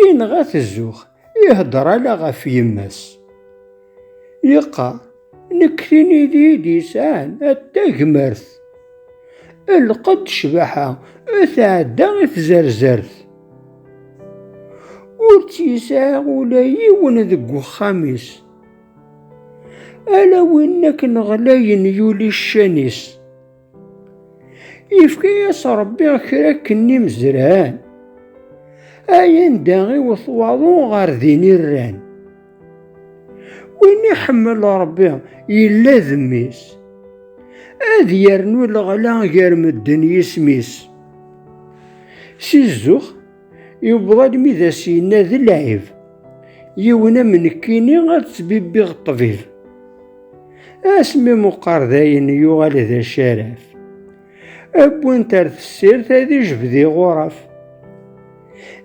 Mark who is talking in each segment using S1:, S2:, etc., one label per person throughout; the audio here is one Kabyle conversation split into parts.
S1: Yenɣa-t zzux, iheddeṛ ala ɣef yemma-s. Yeqqar, Nekk tin i d-yesɛan at tagmert. Lqed ccbaḥa tɛedda i tzerzert. Ur tt-yesɛi ula yiwen deg uxxam-is. Ala win akken ɣlayen yuli ccan-is. Yefka-yas Ṛebbi kra akken n imezran, ay anda iwet waḍu ɣer din i rran. Win iḥemmel Ṛebbi yella d mmi-s, ad yernu leɣla gar medden yisem-is. Si zzux, Yewweḍ almi d as-yenna d lɛib, yiwen am nekkini ad ttbibbiɣ ṭṭbib. Asmi meqqar dayen yuɣal d acaraf. Wwin-t ar tessirt ad ijbed iɣuraf.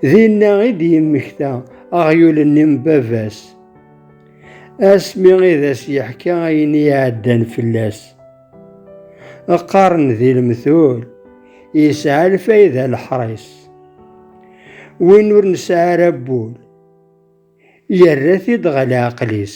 S1: Dinna i d-yemmekta aɣyul-nni n baba-s. Asmi i d as-yeḥka ayen i iɛeddan fell-as. Qqaren di lemtul yesɛa lfayda leḥris. Win ur nesɛi ara wul yerra-t-id ɣer leɛqel-is.